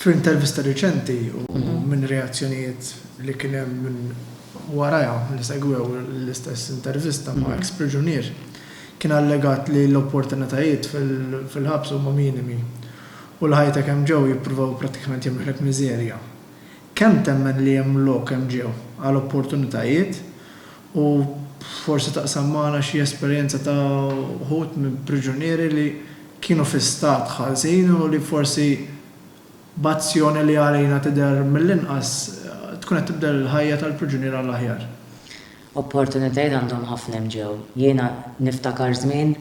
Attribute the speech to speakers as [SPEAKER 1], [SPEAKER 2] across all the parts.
[SPEAKER 1] F'intervista riċenti u minn reazzjonijiet li kien hemm minn warajha li segwew l-istess intervista ma' eks priġunier, kien allegat li l-opportunitajiet fil-ħabs huma minimi u li ħajtek hemm ġew jippruvaw prattikament jagħmluhlek miżerja. Kemm temmen li hemm lok hemm ġew għal opportunitajiet? U forsi taqsam magħna xi esperjenza ta' wħud mill-priġunieri li kienu fi stat ħażin u li forsi b'azzjoni li għalina tidher mill-inqas tkun qed tibdel il-ħajja tal-priġunier għall-aħjar. Opportunitajiet
[SPEAKER 2] għandhom ħafna hemm ġew. Jiena niftakar żmien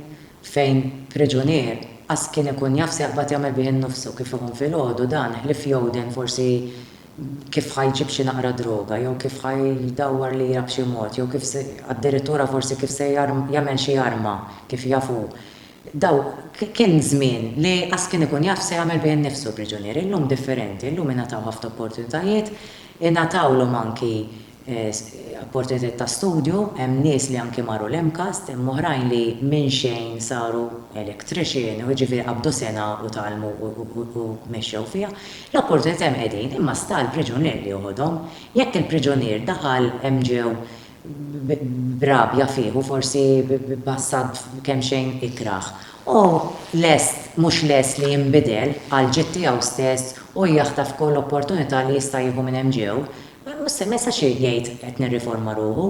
[SPEAKER 2] fejn priġunier qas kien ikun jaf se jaqbad jagħmel bih innufsu kif iħum filgħodu dan ħlief jgħuden forsi kif ħa jġib xi naqra droga jew kif ħa jdawwar lira b'xi mod jew kif se, addirittura forsi kif se jagħmel xi arma kif jaf hu. Daw, kien żmien li qas kien ikun jaf x'se jagħmel bih innifsu l-priġunier. Illum differenti, illum ingħataw ħafna opportunitajiet, ingħatawlhom anki opportunitajiet ta' studju, hemm nies li anki marru l-MCAST, hemm oħrajn li minn xejn saru electrician u jiġifieri qabdu sena u tgħallmu u mexxew fiha. L-opportunitajiet hemm qegħdin imma sta għall-priġunier li joħodhom. Jekk il-priġunier daħal hemm ġew b'rabja fih u forsi b'passat kemxejn ikrah, hu lest, mhux lest li jinbidel għall-ġid tiegħu stess u jaħtaf kull opportunità li jista' jieħu minn hemm ġew Mhux se jsir jgħid qed nirriforma ruħu.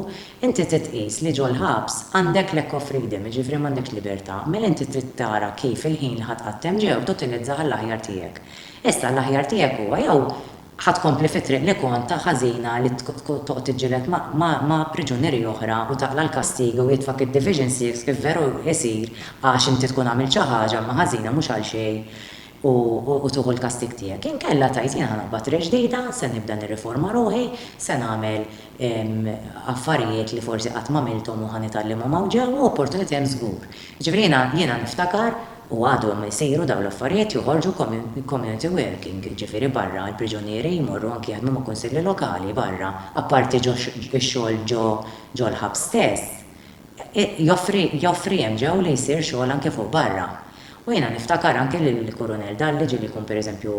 [SPEAKER 2] Inti trid tqis li ġol-ħabs għandek lack of freedom, jiġifieri m'għandekx libertà. Mela inti trid tara kif il-ħin li ħa tqattem ġew tutilizzah għall-aħjar tiegħek. Issa l-aħjar tiegħek huwa jew ħa tkompli fit-triq li kont ta' ħażina li toqgħod tiġġieled ma' priġunieri oħra u taqla' l-kastigi u jitfgħak id-Division Six kif veru jsir għax inti tkun għamilt xi ħaġa imma ħażina mhux għalxejn u tieħu l-kastig tiegħek. Inkella tgħid, jien ħa naqbad re ġdida, se nibda nirriforma ruħi, se nagħmel affarijiet li forsi qatt m'għamilthom u ħa nitgħallimhom hawn ġewwa u opportunità hemm żgur. Jiġifieri jiena jiena niftakar u għadhom isiru dawn l-affarijiet joħorġu community working, jiġifieri barra l-priġunieri jmorru anki jaħdmu ma' kunsilli lokali barra, apparti ġo x-xogħol ġo ġo l-ħabs stess, joffri joffri hemm ġew li jsir xogħol anki fuq barra. U jiena niftakar anke lill-Kurunell Dalli ġieli jkun pereżempju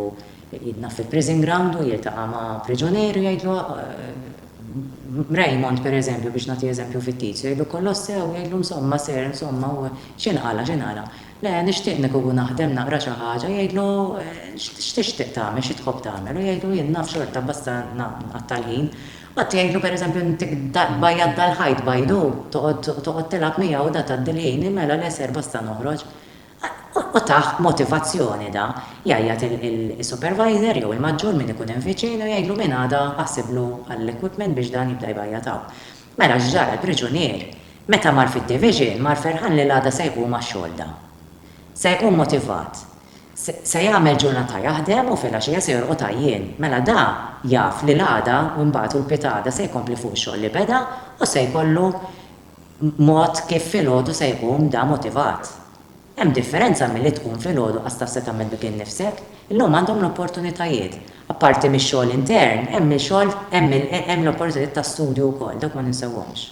[SPEAKER 2] jidnaf fil-prison ground u jiltaqa' ma' priġunier u jgħidlu Raymond pereżempju biex nagħti eżempju fittizju jgħidlu kollox sew u jgħidlu insomma sir insomma u x'inqala' x'inqala' le nixtieq nikugu naħdem naqra xi ħaġa jgħidlu x'tixtieq tagħmel xi tħobb tagħmel u jgħidlu jien naf xorta basta nqatta' l-ħin Qatt jgħidlu pereżempju intik bajjad dal-ħajt bajdu, toqgħod tilgħab miegħu da tgħaddi l-ħin, mela le ser basta noħroġ. U tah motivazzjoni da, jgħajjat is-supervisor jew il-maġġur min ikun hemm viċin u jgħidlu minn għada aħsiblu għall-equipment biex dan jibda jbajjad hawn. Mela x'ġara l-priġunier meta mar fid-division mar ferħan li l-għada se jqum għax-xogħol da. Se jqum motivat. Se jagħmel ġurnata jaħdem u filgħaxija se jorqod għajjien. Mela da jaf li l-għada u mbagħad u l-pitgħada se jkompli fuq ix-xogħol li beda u se jkollu mod kif filgħodu se jqum da motivat. Hemm differenza milli tqum filgħodu qas taf se tagħmel bik innifsek. Illum għandhom l-opportunitajiet. Apparti mix-xogħol intern, hemm il-xogħol hemm l-opportunitajiet ta' studju wkoll, dawk ma ninsewhomx.